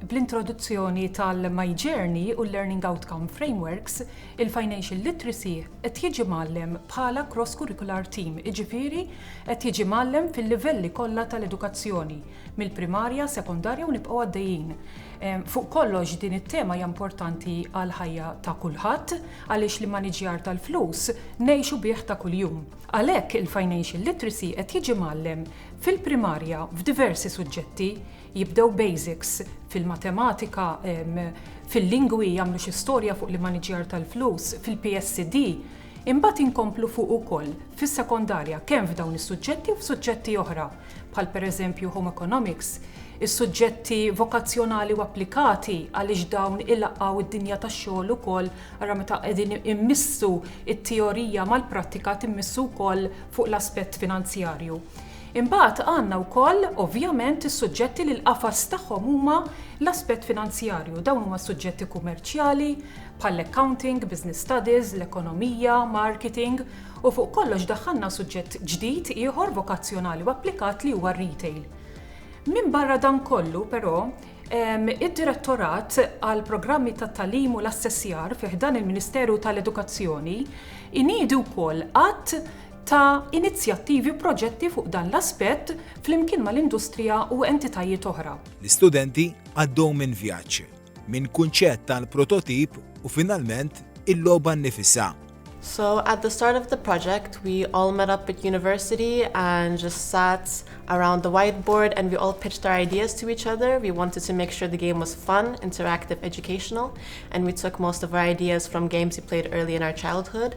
Bl-introduzzjoni tal-My Journey u l-Learning Outcome Frameworks, il-Financial Literacy qed jiġi mgħallem bħala cross-curricular theme, jiġifieri qed jiġi mgħallem fil-livelli kollha tal-edukazzjoni, mill-primarja, sekondarja u nibqgħu għaddejjin. Fuq kollox din it-tema hija importanti għall-ħajja ta' kulħadd għaliex l-immaniġjar tal-flus ngħixu bih ta' kuljum. Għalhekk il-Financial Literacy qed jiġi mgħallem fil-primarja f'diversi suġġetti, jibdew basics fil-matematika, fil-lingwi, jagħmlu xi storja fuq l-immaniġjar tal-flus, fil-PSD, imbagħad inkomplu fuq ukoll fis-sekondarja kemm f'dawn is-suġġetti u f'suġġetti oħra bħal pereżempju Home Economics, is-suġġetti vokazzjonali u applikati għaliex dawn ilaqqgħu d-dinja tax-xogħol ukoll ara meta qegħdin immissu t-teorija mal-prattika timmissu wkoll fuq l-aspett finanzjarju. Imbagħad għandna wkoll, ovvjament, is-suġġetti li l-qafas tagħhom huma l-aspett finanzjarju. Dawn huma s-suġġetti kumerċjali, bħall-accounting, business studies, l-ekonomija, marketing, u fuq kollox daħħalna suġġett ġdid ieħor vokazzjonali u applikat li huwa r-retail. Minbarra dan kollu, però, id-Direttorat għall-Programmi tat-Tagħlim u l-Assessjar fi ħdan il-Ministeru tal-Edukazzjoni jniedi wkoll għadd ta' inizjattivi u proġetti fuq dan l-aspett flimkien mal-industrija u entitajiet oħra. L-istudenti għaddew minn vjaġġ, minn kunċett tal-prototip u finalment il-logħba nnifisha. So at the start of the project we all met up at university and just sat around the whiteboard and we all pitched our ideas to each other, we wanted to make sure the game was fun, interactive, educational and we took most of our ideas from games we played early in our childhood.